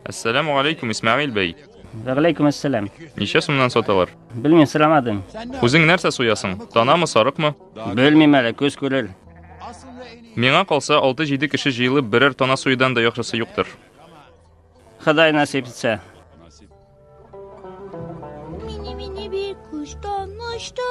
Әссәләму алейкум, Исмәгыйль бәй. Вәгәләйкүм әссәләм. Ничә сумнан саталар? Белмим, сорамадым. Үзең нәрсә суясың? Танамы, сарыкмы? Белмим әле, көз күрер. Миңа калса, 6-7 кеше җыелып берәр тана суюдан да яхшысы юктыр. Ходай насип итсә. Мини-мини бик куштан очты,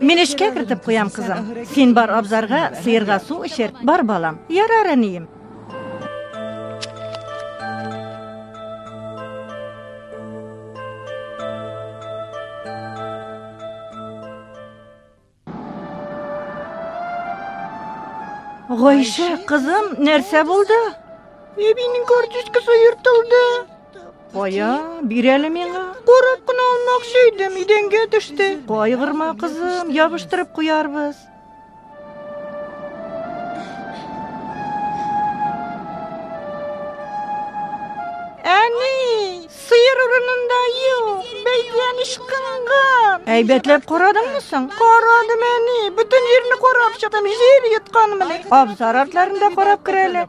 Мин эшкә кертеп куям, кызым. Син бар абзарга, сыерга су эчер. Бар, балам. Ярар, әнием. Гайшә, кызым, нәрсә булды? Әбинең карточкасы ертылды. Кая, бир әле миңа. Карап кына алмакчы идем, идәнгә төште. Кайгырма, кызым, ябыштырып куярбыз. Әни, сыер урынында юк, бәйгән ышкынган. Әйбәтләп карадыңмы соң? Карадым, әни, бөтен җирне карап чыктым, җир йотканмыни. Абзар артларында карап керәле,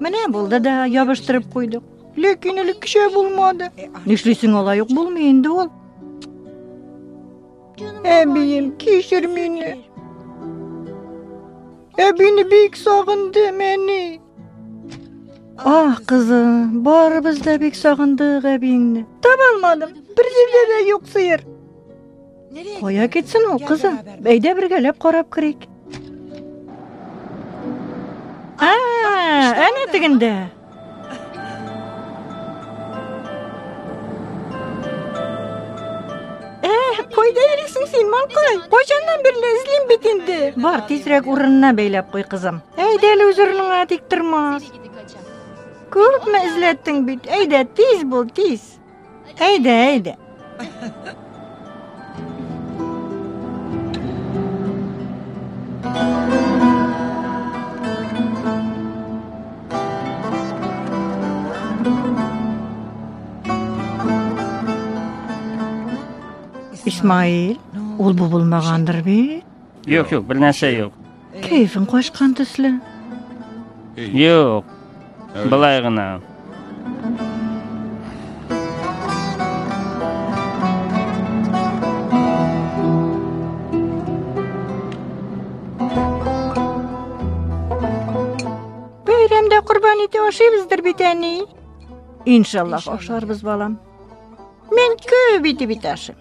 Менә булды да ябыштырып куйдык. Ләкин әле кичә булмады. Нишлисең алай ук булмый инде ул. Әбием, кичер мине. Әбине бик сагындым, әни. Ах, кызым, барыбыз да бик сагындык әбиеңне. Таба алмадым. Бер җирдә дә юк сыер. Кая китсен ул, кызым? Әйдә бергәләп карап керик. А, әнә тегендә. Кайда йөрисең син, малкай? Кайчаннан бирле эзлим бит инде. Бар, тизрәк урынына бәйләп куй, кызым. Әйдә әле үз урыныңа тик тормас. Күпме эзләттең бит? Әйдә, тиз бул, тиз. Әйдә, әйдә. Исмаил, ул бу булмагандыр бит? Юк, юк, бер нәрсә юк. Кәефең качкан төсле. Юк, былай гына. Бәйрәмдә корбан ите ашыйбыздыр бит әни. Иншаллах ашарбыз, балам. Мин күп итеп ит ашыйм.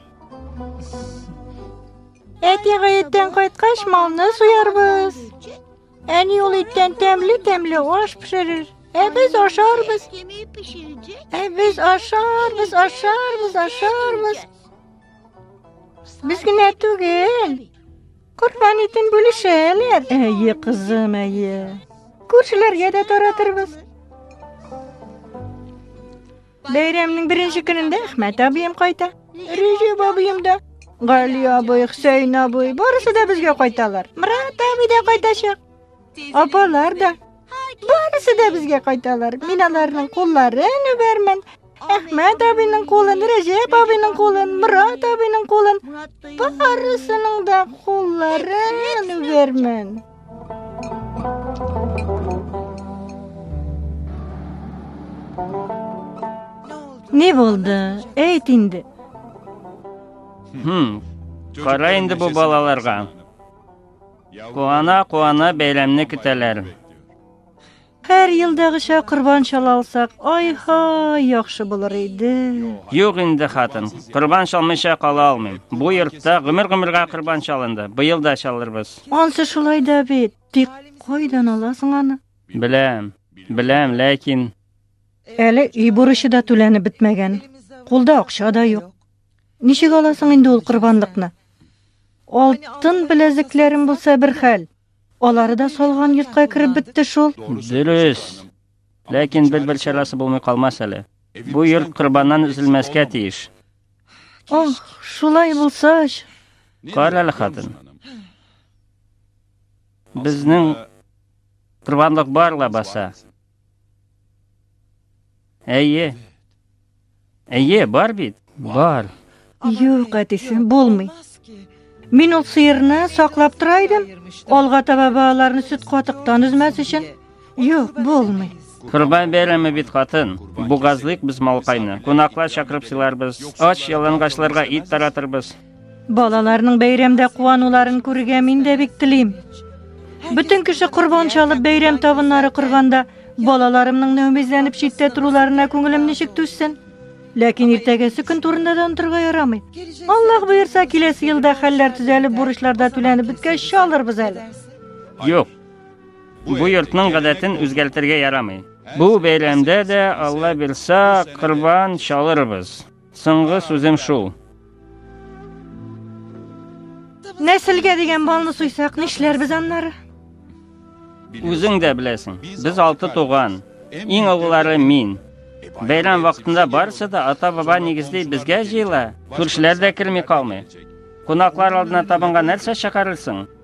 Әти гаеттән кайткач, малны суярбыз. Әни ул иттән тәмле-тәмле аш пешерер. Ә без ашарбыз. Ә без ашарбыз, ашарбыз, ашарбыз. Без генә түгел. Корбан итен бүлешәләр. Әйе, кызым, әйе. Күршеләргә дә таратырбыз. Бәйрәмнең беренче көнендә Әхмәт абыем кайта. Рәҗәп абыем да, Гали абый, Хөсәйн абый, барысы да безгә кайталар. Мират абый да кайтачак. Апалар да. Барысы да безгә кайталар. Мин аларның кулларын үбәрмен. Әхмәт абыйның кулын, Рәҗәп абыйның кулын, Мират абыйның кулын, барысының да кулларын үбәрмен. Не булды? Әйт инде. Хм. Кара инде бу балаларга. Куана-куана бәйрәмне көтәләр. Һәр елдагыча корбан чала алсак, ай-һай, яхшы булыр иде. Юк инде, хатын, корбан чалмыйча кала алмыйм. Бу йортта гомер-гомергә корбан чалынды. Быел да чалырбыз. Ансы шулай да бит. Тик кайдан аласың аны? Беләм, беләм, ләкин... Әле өй бурычы да түләнеп бетмәгән. Кулда акча да юк. Ничек аласың инде ул корбанлыкны? Алтын беләзекләрем булса бер хәл. Алары да салган йортка кереп бетте шул. Дөрес. Ләкин бер-бер чарасы булмый калмас әле. Бу йорт корбаннан өзелмәскә тиеш. Ох, шулай булса. Кара әле хатын. Безнең корбанлык бар лабаса. Әйе. Әйе, бар бит. Бар. Юк, әтисе, булмый. Мин ул сыерны саклап тора идем. Алга таба балаларны сөт катыктан өзмәс өчен. Юк, булмый. Курбан бәйрәме бит хатын. Бугазлык без малкайны. Кунаклар чакырып сыйларбыз. Ач ялангачларга ит таратырбыз. Балаларның бәйрәмдә куануларын күрергә мин дә бик телим. Бөтен кеше корбан чалып бәйрәм табыннары корганда, балаларымның нәүмизләнеп читтә торуларына күңелем ничек түзсен? Ләкин иртәгәсе көн турында да онтырга ярамый. Аллаһ боерса, киләсе елда хәлләр төзәлеп, бурычлар да түләнеп беткәч чалырбыз әле. Юк. Бу йортның гадәтен үзгәртергә ярамый. Бу бәйрәмдә дә Алла бирса, корбан чалырбыз. Соңгы сүзем шул. Нәселгә дигән балны суйсак, нишләрбез аннары? Үзең дә беләсең, без алты туган, иң олылары мин. Бәйрәм вакытында барысы да ата-баба нигезли безгә җыела. Күршеләр дә керми калмый. Кунаклар алдына табынга нәрсә чыгарырсың?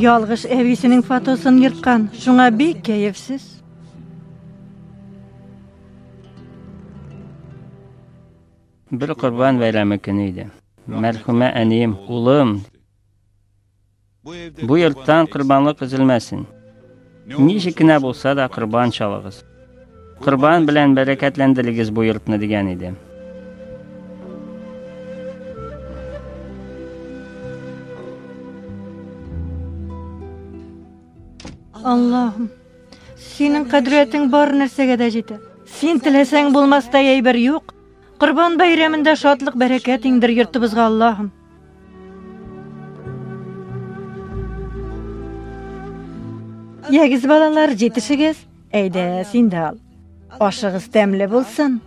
Ялгыш әбисенең фотосын ерткан, шуңа бик кәефсез. Бер корбан бәйрәме көне иде. Мәрхүмә әнием, улым, Бу йорттан корбанлык өзелмәсен. Ничек кенә булса да корбан чалыгыз. Корбан белән бәрәкәтләндерегез бу йортны дигән иде. Аллаһым, синең кадриятең бар нәрсәгә дә җитә. Син теләсәң булмастай әйбер юк. Корбан бәйрәмендә шатлык бәрәкәт иңдер йортыбызга, Аллаһым. Ягез балалар, җитешегез. Әйдә, син дә ал. Ашыгыз тәмле булсын.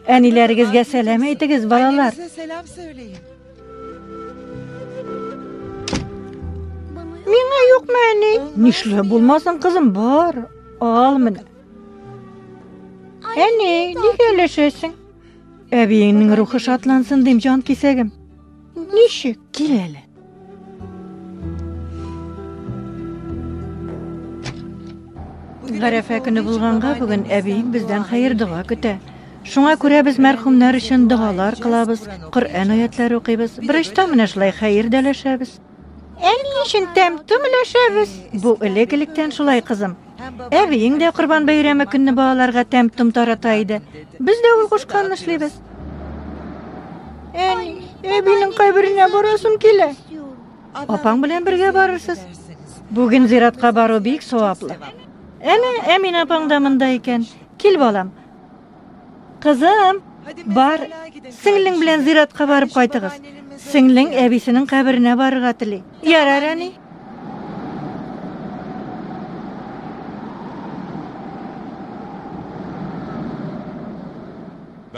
Әниләрегезгә сәлам әйтегез, балалар. Әниләрегезгә сәлам сөйләйем. Миңа юкмы, әни? Нишләп булмасын, кызым, бар. Ал менә. Әни, нигә өләшәсең? Әбиеңнең рухы шатлансын дим, җан кисәгем. Ничек? Кил әле. Гарәфә көне булганга бүген әбиең бездән хәер дога көтә. Шуңа күрә без мәрхүмнәр өчен догалар кылабыз, Коръән аятләре укыйбыз. Берочта менә шулай хәер дәләшәбез. Ә ни өчен тәм том өләшәбез? Бу элек-электән шулай, кызым. Әбиең дә Корбан бәйрәме көнне балаларга тәм том тарата иде. Без дә ул кушканны эшлибез. Әни, әбинең каберенә барасым килә. Апаң белән бергә барырсыз. Бүген зиратка бару бик саваплы. Әнә, Әмин апаң да монда икән. Кил, балам. Кызым, бар, сеңлең белән зиратка барып кайтыгыз. Сеңлең әбисенең каберенә барырга тели. Ярар, әни.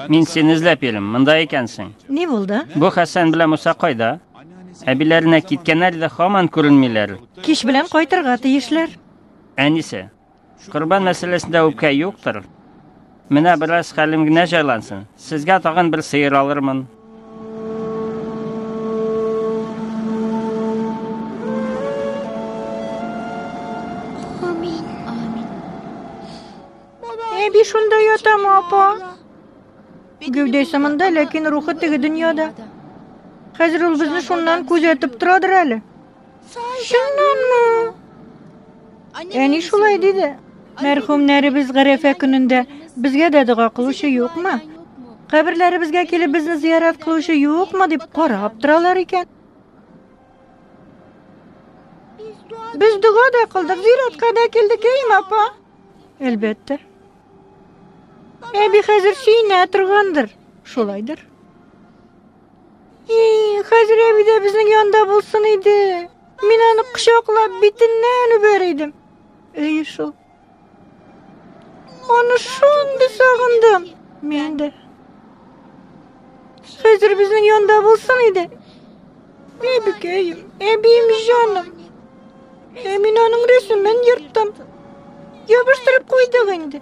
Мин сине эзләп йөрим, монда икәнсең. Ни булды? Бу Хәсән белән Муса кайда? Әбиләренә киткәннәр дә хаман күренмиләр. Кич белән кайтырга тиешләр. Әнисе, Корбан мәсьәләсендә үпкә юктыр. Менә бераз хәлем генә җайлансын. Сезгә тагын бер сыер алырмын. Әби шунда ятам, апа. Гәүдәсе монда, ләкин рухы теге дөньяда. Хәзер ул безне шуннан күзәтеп торадыр әле. Чыннанмы? Әни шулай диде. Мәрхүмнәребез гарәфә көнендә безгә дә дога кылучы юкмы? Каберләребезгә килеп безне зиярат кылучы юкмы дип карап торалар икән. Без дога да кылдык, зиратка да килдек, әйме, апа? Әлбәттә. Әби хәзер сөенә торгандыр. Шулайдыр. И, хәзер әби дә безнең янда булсын иде. Мин аны кочаклап битеннән үбәр идем. Әйе шул. Аны шундый сагындым. Мин дә. Хәзер безнең янда булсын иде. Әбекәем, әбием җаным. Ә мин аның рәсемен ерттым. Ябыштырып куйдык инде.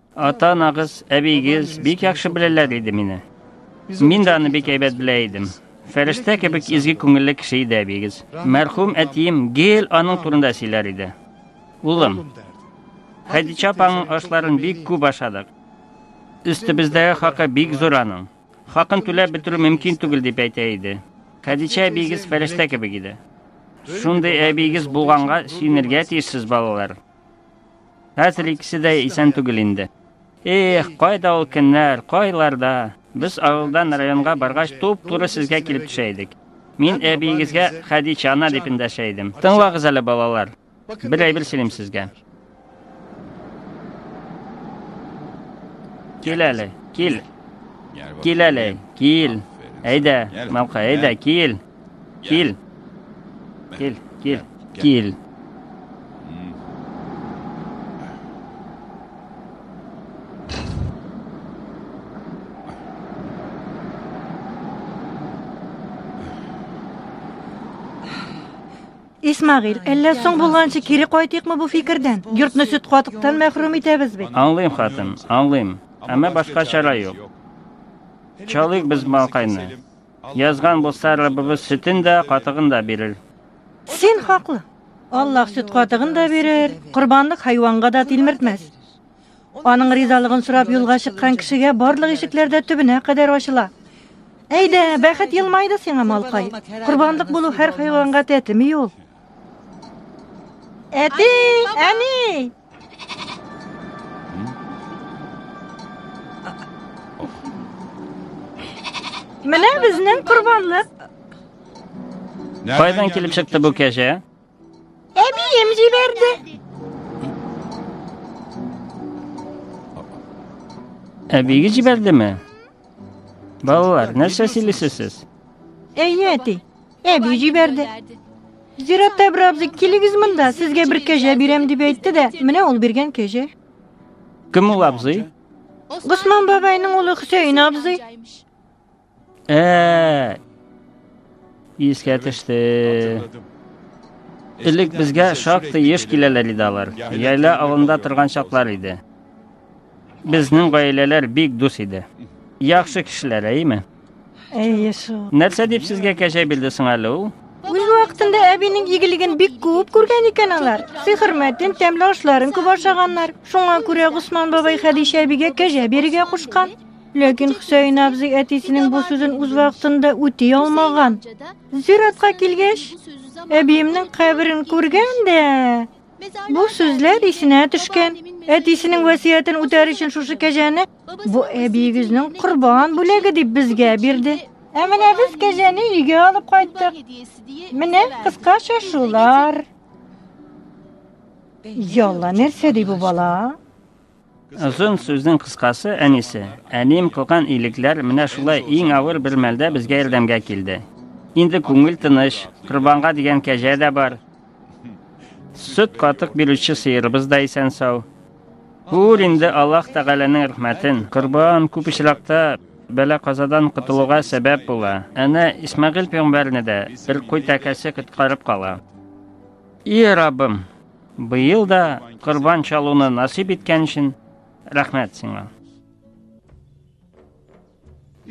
Ата-анагыз, әбиегез бик яхшы беләләр иде мине. Мин дә аны бик әйбәт белә идем. Фәрештә кебек изге күңелле кеше иде әбиегез. Мәрхүм әтием гел аның турында сөйләр иде. Улым, Хәдичә апаның ашларын бик күп ашадык. Өстебездәге хакы бик зур аның. Хакын түләп бетерү мөмкин түгел дип әйтә иде. Хәдичә әбиегез фәрештә кебек иде. Шундый әбиегез булганга сөенергә тиешсез балалар. Хәзер икесе дә исән түгел инде. Эх, кайда ул көннәр, кайларда! Без авылдан районга баргач, туп-туры сезгә килеп төшә идек. Мин әбиегезгә Хәдичә ана дип эндәшә идем. Тыңлагыз әле, балалар. Бер әйбер сөйлим сезгә. Кил әле, кил. Кил әле, кил. Әйдә, малкай, әйдә, кил. Кил. Кил, кил, кил. Исмагил, әллә соң булганчы кире кайтыйкмы бу фикердән? Йортны сөт катыктан мәхрүм итәбез бит. Аңлыйм, хатын, аңлыйм. Әмма башка чара юк. Чалыйк без малкайны. Язган булса, Раббыбыз сөтен дә, катыгын да бирер. Син хаклы. Аллаһ сөт катыгын да бирер, корбанлык хайванга да тилмертмәс. Аның ризалыгын сорап юлга чыккан кешегә барлык ишекләр дә төбенә кадәр ачыла. Әйдә, бәхет елмайды сиңа, малкай. Корбанлык булу һәр хайванга тәтеми ул. Әти, әни! Менә безнең корбанлык. Кайдан килеп чыкты бу кәҗә? Әбием җибәрде. Әбиегез җибәрдеме? Балалар, нәрсә сөйлисез сез? Әйе, әти. Әби җибәрде. Зиратта бер абзый, килегез монда, сезгә бер кәҗә бирәм дип әйтте дә, менә ул биргән кәҗә. Кем ул абзый? Госман бабайның улы Хөсәен абзый. Ә. Искә төште. Элек безгә шактый еш киләләр иде алар. Яйла авылында торган чаклар иде. Безнең гаиләләр бик дус иде. Яхшы кешеләр, әйеме? Әйе шул. Нәрсә дип сезгә кәҗә бирде соң әле ул? Үз вакытында әбинең игелеген бик күп күргән икән алар. Сый хөрмәтен, тәмле ашларын күп ашаганнар. Шуңа күрә Госман бабай Хәдичә әбигә кәҗә бирергә кушкан. Ләкин Хөсәен абзый әтисенең бу сүзен үз вакытында үти алмаган. Зиратка килгәч, әбиемнең каберен күргән дә, Бу сүзләр исенә төшкән. Әтисенең вәсиятен үтәр өчен шушы кәҗәне бу әбиегезнең корбан бүләге дип безгә бирде. Ә менә без кәҗәне өйгә алып кайттык. Менә кыскача шулар. Ялла нәрсә ди бу бала? Озын сүзнең кыскасы, әнисе. Әнием кылган илекләр менә шулай иң авыр бер мәлдә безгә ярдәмгә килде. Инде күңел тыныч, корбанга дигән кәҗә дә бар. Сөт катык бирүче сыерыбыз да исән сау. Күр инде Аллаһ Тәгаләнең рәхмәтен. Корбан күп очракта бәла казадан котылуга сәбәп була. Әнә Исмәгыйль пәйгамбәрне дә бер куй тәкәсе коткарып кала. И Раббым, Быел да корбан чалуны насыйп иткән өчен рәхмәт сиңа.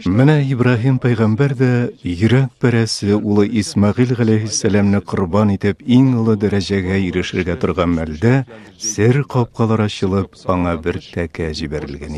Менә Ибраһим пәйгамбәр дә йөрәк пәрәсе улы Исмагыйл галәйһиссәламне корбан итеп иң олы дәрәҗәгә ирешергә торган мәлдә сер капкалар ачылып, аңа бер тәкә җибәрелгән